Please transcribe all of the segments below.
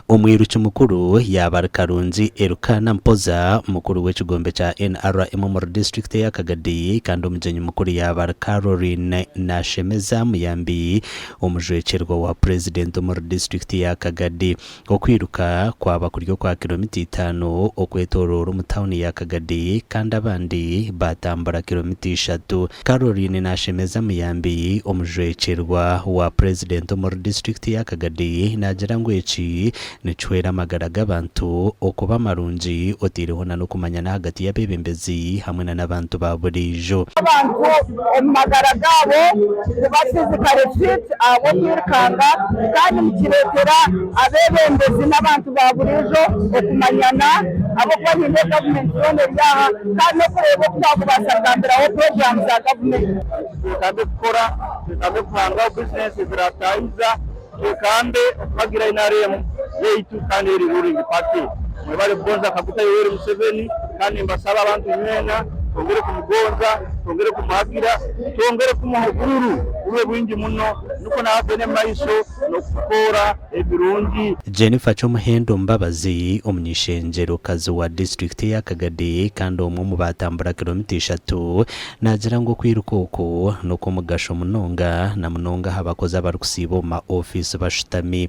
Omwiruki mukuru y'abari Karungi Elukaana Mpoza, mukuru w'ekigombe kya NRM omuri disiturikiti ya Kagadi kandi omugyenyi mukuru y'abari Caroline Nashemeza Muyambi, omujwekyerwa wa purezidenti omuri disiturikiti ya Kagadi. Okwiruka kwaba kuri okwa kiromita itaano okwetoroora omu tawuni ya Kagadi kandi abandi baatambura kiromita ishatu. Caroline Nashemeza Muyambi, omujwekyerwa wa purezidenti omuri disiturikiti ya Kagadi naagira ngu eki nikihwera amagara g'abantu okuba marungi otaireho nana okumanyana ahagati y'abeebembezi hamwe nana abantu ba buriijo. abantu omu magara gaabo kuba fizikare fiti ahabw'okwirukanga kandi nikireetera Abeebembezi n'abantu ba buriijo okumanyana ahabw'okuba niinda gavumenti yoona eri aha kandi n'okureeba oku twakubaasa kugambiraho puroguraamu za gavumenti. Twekambe kukora, twekambe kuhangaho bizinensi eziraataahiza, twekambe okuhagira nrm yaitu kandi eri ruling party. Mwebale kugonza Kaguta Yoweri Museveni kandi nimbasaba abantu mwena twongere kumugonza, twongere kumuhagira. Twongere kumuha oburuuru bube bwingi muno nikwo nawe agende omu maiso n'okutukoora ebirungi. Jennifer Kyomuhendo Mbabazi, omuny'eishengyerokazi wa disiturikiti eya Kagadi kandi omwe omu baatambura kiromita ishatu, naagira ngu okwiruka oku n'okw'omugasho munonga, na munonga aha bakozi abarikusiiba omu ma ofiisi bashutami.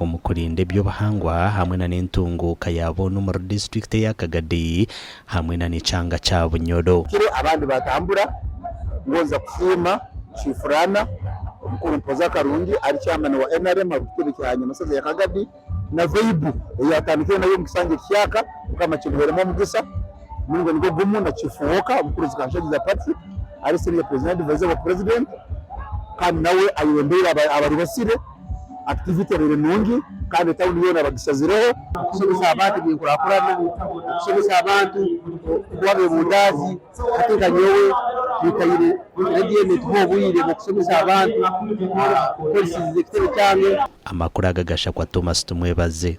omu kurinda eby'obuhangwa hamwe na n'entunguuka ya boona omuri disiturikiti eya Kagadi hamwe na n'ekyanga kya Bunyoro. Kiro abandi baatambura ngonza kusiima Chiefuraana Omukuru Mpooza Karungi ari Chairman wa nrm aha kitebe kya Nyamashaza ya Kagadi na Veibu eyi atandikire nayo omu kisanja eki kyaka Mukama akimuheremu omugisa Muringo nigwo gumu na Chief Walker Mukuruzi Kanshagiza Patrick ari Senior Presiding Advisor wa President kandi nawe ayebembeire abari basire Activity ebaire nungi kandi etauni yoona bagishazireho. Okushemesa abantu ebyenkurakurana, okushemesa abantu kuba abebundaazi hati nka nyowe nitaire radio egi netuha obwire bwokushemesa abantu kukoresize ekitebe kyange. Amakuru aga gashakwa Thomas Tumwebaze.